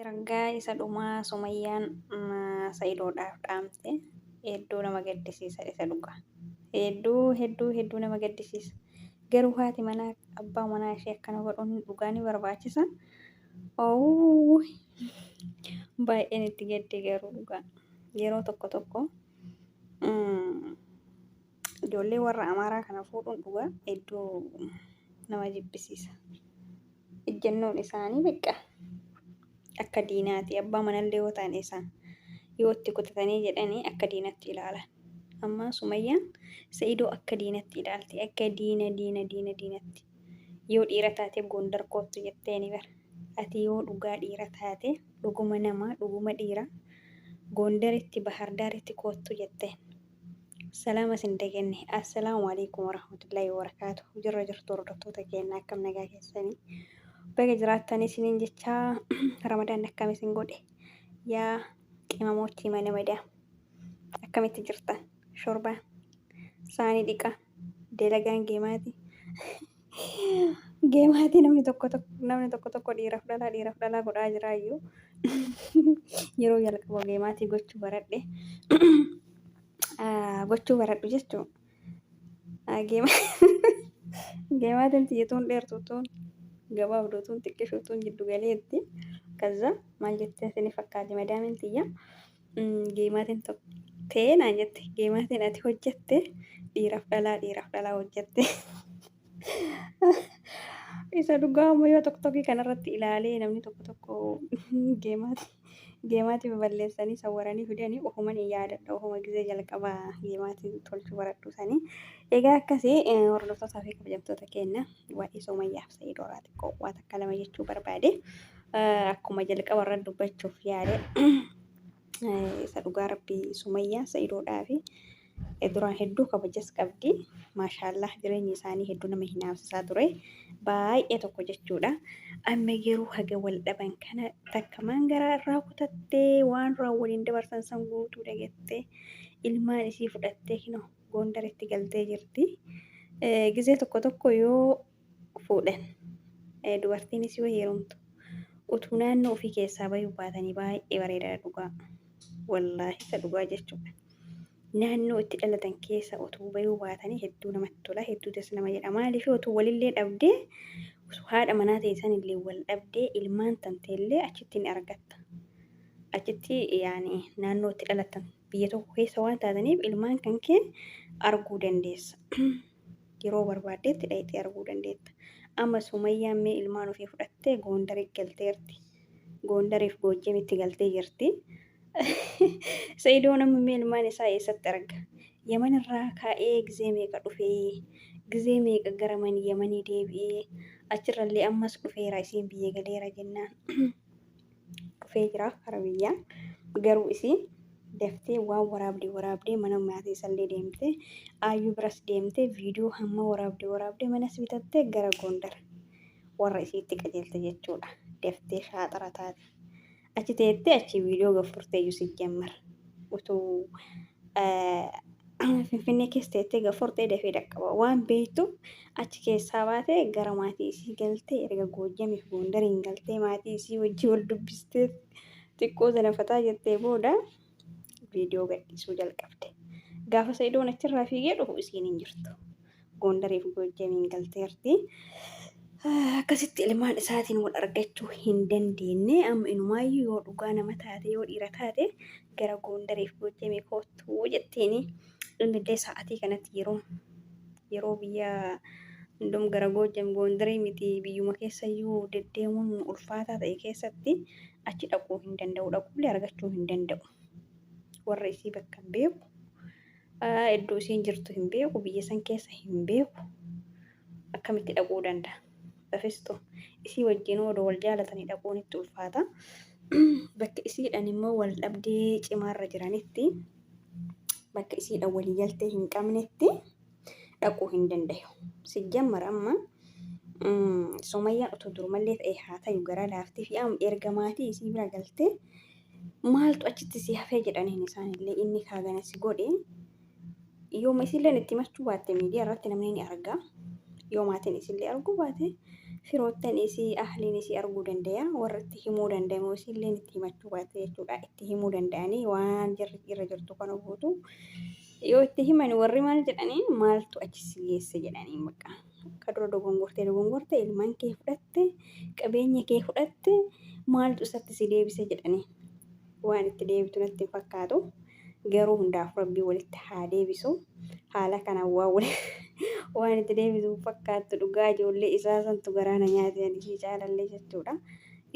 Ergaa isa dhumaa sumayyaan sa'idoodhaaf dhaamte hedduu nama gaddisiisa isa dhugaa hedduu hedduu hedduu nama gaddisiisa garuu haati manaa abbaa manaa ishee akkana godhuun dhugaa ni barbaachisa oowuu baay'een itti gaddee garuu dhugaa yeroo tokko tokko Ijoollee warra Amaaraa kana fuudhuun dhugaa hedduu nama jibbisiisa. Ejjennoon isaanii beeqa akka diinaati. Abbaa manallee yoo ta'an isaa yoo itti kutatanii jedhanii akka diinatti ilaalan. Amma Sumayyaan Sa'idoo akka diinatti ilaalti. Akka diina diina diina diinatti. Yoo dhiira taate Gondar koottu jetteeni bara. Ati yoo dhugaa dhiira taate dhuguma namaa dhuguma dhiira Gondaritti Bahardaaritti koottu jetteen. Salaama sin dagenne. Assalaamu alaikum warahmatullahi wabarakaatu. Jirra jirtu hordoftoota keenya akkam nagaa keessanii. Baga jiraattanii isiniin jechaa ramadaan akkam isin godhe. Yaa qimamoottii mana madaa. Akkamitti jirtan? Shorbaa. Saanii dhiqaa. Dalagaan geemaati. Geemaatii namni tokko tokko namni tokko tokko dhiiraaf dhalaa dhiiraaf dhalaa godhaa jiraayyuu yeroo jalqaba geemaatii gochuu baradhe gochuu baradhu jechuun geemaatiin tiyyatuun dheertuutuun gabaabduutuun xiqqishuutuun jiddu galeetti kaza maal jettee sini fakkaati madaamin tiyya Geemaatiin tokko ta'ee naan jette geemaatiin ati hojjette dhiiraaf dhalaa dhiiraaf dhalaa hojjette. Isa dhugaa ammoo yoo tokko tokkii kanarratti ilaalee namni tokko tokko geemaati geemaatii baballeessanii sawwaranii fidanii ofuman hin yaadadha ofuma gizee jalqabaa geemaatii tolchuu baradhu sanii. Egaa akkasii hordoftoota fi kabajamtoota keenya waa'ee Sumayyaaf Sa'iidoo irraa xiqqoo waa takka lama jechuu barbaade. Akkuma jalqaba irra dubbachuuf yaale isa dhugaa rabbii Sumayyaa Sa'iidoodhaa fi duraan hedduu kabajas qabdi. Maashaallah jireenyi isaanii hedduu nama hinaafsisaa ture. Baay'ee tokko jechuudha. Amma garuu haga wal dhaban kana takka maan garaa irraa kutattee waan duraan waliin dabarsan san guutuu dagattee ilmaan isii fudhattee kinoo Goondaritti galtee jirti. Gizee tokko tokko yoo fuudhan dubartiinis yoo heerumtu utuu naannoo ofii keessaa bayuu baatanii baay'ee bareedaadha dhugaa. Wallaahi isa dhugaa jechuudha. Naannoo itti dhalatan keessa utuu bayuu baatanii hedduu namatti tola hedduu das nama jedha maaliif utuu walillee dhabdee osoo haadha manaa ta'e sanillee wal dhabdee ilmaan tanteellee achitti ni argatta. Achitti yaani naannoo itti dhalatan biyya tokko keessa waan taataniif ilmaan kan keen arguu dandeessa. Yeroo barbaaddeetti dhayxee arguu dandeetta. Amma Sumayyaan mee ilmaan ofii fudhattee Goondari galteerti. Goondariif Goojjamitti galtee jirti. Sa'idoon amma mee ilmaan isaa eessatti arga? Yaman irraa kaa'ee gizee meeqa dhufee? Gizee meeqa gara man Yamanii deebi'ee? Achirrallee ammas dhufeera isiin biyya galeera jennaan. dhufee jira kara biyyaan garuu isiin daftee waan waraabdee waraabdee mana maatii isallee deemtee aayyuu biras deemtee viidiyoo hamma waraabdee waraabdee manas bitattee gara Gondar warra isiitti qajeelte jechuudha daftee shaaxara taate achi teettee achi viidiyoo gaffurteeyyu sijjammar utuu Finfinnee keessa teettee gafortee dafee dhaqqaba waan beektuuf achi keessaa baatee gara maatii isii galtee erga Goojjamiif Goondariin galtee maatii isii wajjin wal dubbistee xiqqoo zanafataa jettee booda viidiyoo gadhiisuu jalqabde. Gaafa Sa'idoon achirraa fiigee dhufu isiin hin jirtu. Goondariif Goojjamiin galteerti. Akkasitti ilmaan isaatiin wal argachuu hin dandeenye amma inumaayyuu yoo dhugaa nama taate yoo dhiira taate gara Goondariif Goojjamii koottuu jetteeni inni illee sa'atii kanatti yeroo yeroo biyya hundum gara Goojjam Goondarii miti biyyuma keessayyuu deddeemuun ulfaataa ta'e keessatti achi dhaquu hin danda'u dhaquullee argachuu hin danda'u warra isii bakka beeku Iddoo isiin jirtu hin beeku, biyya san keessa hin beeku. Akkamitti dhaquu danda'a? Bafistu isii wajjinuu odoo wal jaalatanii dhaquun itti ulfaata. Bakka isiidhaan immoo wal dhabdee cimaarra jiranitti, bakka isiidhaan walii galtee hin qabnetti dhaquu hin dandayu. Sijjammar amma Sumayyaan utuu durumallee ta'ee haa tayu garaa laaftii fi amma erga maatii isii bira galtee maaltu achitti si hafee jedhaniin isaanillee inni kaagana si godhe yooma isilleen itti machuu baatte miidiyaa irratti namni ni arga yoomaatiin isillee arguu baate firoottan isii ahliin isii arguu danda'a warra itti himuu danda'amu isilleen itti himachuu baatte jechuudha itti himuu danda'anii waan jirri irra jirtu kana guutu yoo itti himan warri maal jedhaniin maaltu achi si geesse jedhaniin baqqaa. Akka dura dogongortee dogongorte ilmaan kee fudhatte qabeenya kee fudhatte maaltu isatti si deebise jedhanii waan itti deebitu natti hin fakkaatu garuu hundaaf rabbii walitti haa deebisu haala kanaan waa wali waan itti deebitu hin fakkaattu dhugaa ijoollee isaa santu garaana nyaate ani ishii caalallee jechuudha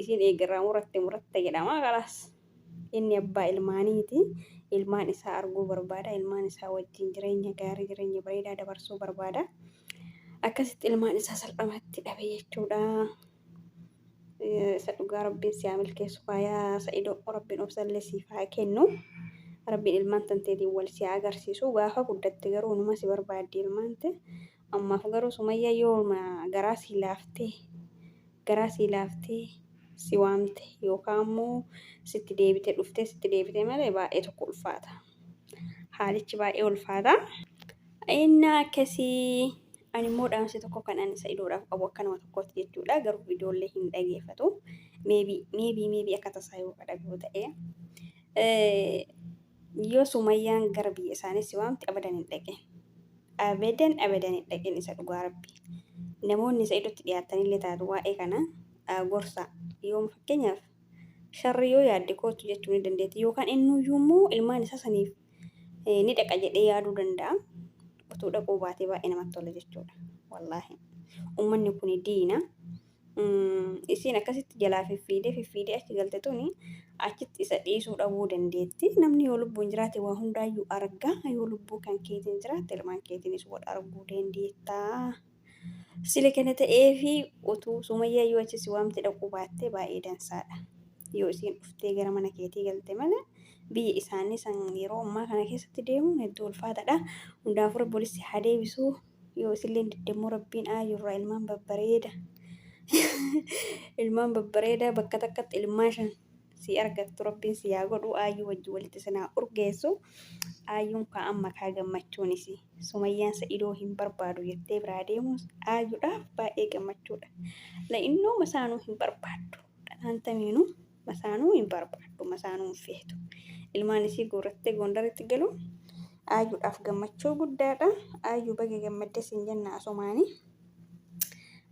isiin eegarraa muratte muratte jedhama kalaas. Inni abbaa ilmaaniiti. Ilmaan isaa arguu barbaada. Ilmaan isaa wajjin jireenya gaarii, jireenya bareedaa dabarsuu barbaada. Akkasitti ilmaan isaa salphamatti dhabe jechuudha. Isa dhugaa rabbiin si haa milkeessu faayaa sa'idoo rabbiin obsallee siif haa kennu. Rabbiin ilmaan tanteetiin wal si haa agarsiisu. Gaafa guddatte garuu numa si barbaaddi ilmaan ta'e. Ammaaf garuu sumayyaa yooma garaa sii laaftee garaa sii laaftee si waamte yookaa ammoo sitti deebite dhuftee sitti deebite malee baay'ee tokko ulfaata haalichi baay'ee ulfaata innaa akkasii ani immoo dhaamsi tokko kan ani sa'idoodhaaf qabu akka nama tokkootti jechuudha garuu viidiyoollee hin dhageeffatu meebii meebii meebii akka tasaa yoo dhaga'u ta'e Yoo sumayyaan gara biyya isaanii si waamte abadan hin dhaqin. Abadan abadan hin dhaqin isa dhugaa rabbi. Namoonni sa'idotti dhiyaattanillee taatu waa'ee kana gorsaa. Yoom fakkeenyaaf sharri yoo yaadde kootu jechuu ni dandeetti yookaan innuyyuu immoo ilmaan isaa saniif ni dhaqa jedhee yaaduu danda'a. Utuu dhaquu baatee baay'ee namatti tola jechuudha. Wallaahi. Ummanni kun diina. Isiin akkasitti jalaa fiffiidee fiffiidee achi galte tuni achitti isa dhiisuu dhabuu dandeetti. Namni yoo lubbuun jiraate waa hundaayyuu arga. Yoo lubbuu kan keetiin jiraate ilmaan keetiinis wal arguu dandeetta. Sila kana ta'ee fi utuu sumayyaa yoo achi si waamte dhaquu baattee baay'ee dansaadha. Yoo isiin dhuftee gara mana keetii galte malee biyya isaanii san yeroo ammaa kana keessatti deemuun hedduu ulfaataadha. Hundaafuu rabbi walitti haa deebisuu. Yoo isilleen diddemmoo rabbiin aayurraa ilmaan babbareeda. ilmaan babbareedaa bakka takkatti ilmaa shan si argattu rabbiin si yaa godhu aayyuu wajji walitti sinaa urgeessu. Aayyuun kaa amma kaa gammachuun isii. Sumayyaan sa'idoo hin barbaadu jettee biraa deemuus aayyuudhaaf baay'ee gammachuudha. La'innooma isaanuu hin barbaaddu. Dhanaantamiinuu. Masaanuu hin barbaaddu, masaanuu hin feetu. Ilmaan isii guurrattee Gondaritti galuun Ayyuudhaaf gammachuu guddaadha. Ayyuu baga gammadde siin jenna asumaani.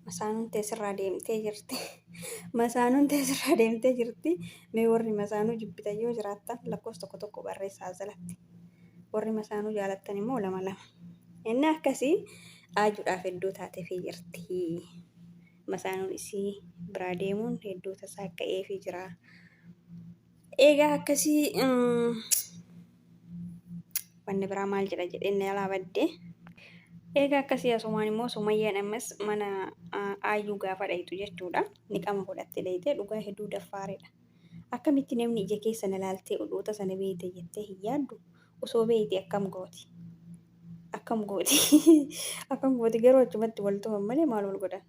Masaanuun tee sirraa deemtee jirti. Masaanuun tee sirraa deemtee jirti. Mee warri masaanuu jibbitan yoo jiraattan lakkoofsa tokko tokko barreessaa as jalatti. Warri masaanuu jaalattan immoo lama lama. Inni akkasii Ayyuudhaaf hedduu taatefii jirti. Masaanuun isii biraa deemuun hedduu tasaakka'eefii jira. Eegaa akkasii wanni biraa maal jedha jedhee inni alaa badde. Eegaa akkasii asumaan immoo Sumayyaan ammas mana aayyuu gaafa dhayxu jechuudha. Niqama godhatte dhayxee dhugaa hedduu daffaaredha. Akkamitti namni ija keessa na laaltee oduu tasa na beeyte jettee hin yaaddu. osoo beeyte akkam gooti akkam gooti akkam gooti garuu achumatti wal tuman malee maal wal godhan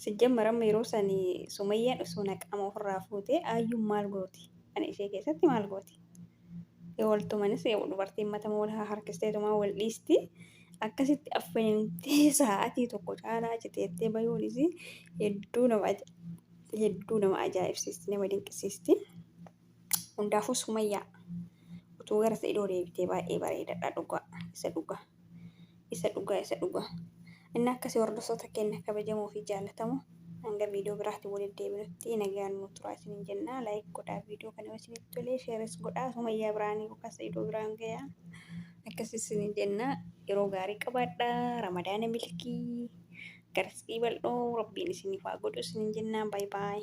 sijjammar amma yeroo san sumayyaan osoo naqaama ofirraa fuute ayyuun maal gooti ana ishee keessatti maal gooti yoo wal tumanis dubartiin matama wal haa harkisteetumaa wal dhiisti akkasitti affeentee sa'aatii tokko caalaa citeettee bayuunis hedduu nama hedduu nama ajaa'ibsiisti nama dinqisiisti. Hundaafuu Sumayyaa utuu gara Sa'idoo deebitee baay'ee bareedadha dhugaa isa dhugaa isa dhugaa isa dhugaa inni akkasii hordoftoota keenya kabajamoo fi jaalatamoo hanga viidiyoo biraatiin walitti deebinutti nagaan nu turaa isiniin jennaa laayik godhaa viidiyoo kana yoo isinitti tolee sheeres godhaa Sumayyaa biraanii yookaan Sa'idoo biraan gayaa akkasii isiniin jennaa yeroo gaarii qabaadhaa ramadaana milkii garsii bal'oo rabbiin isiniif haa godhu isiniin jennaa baay baay.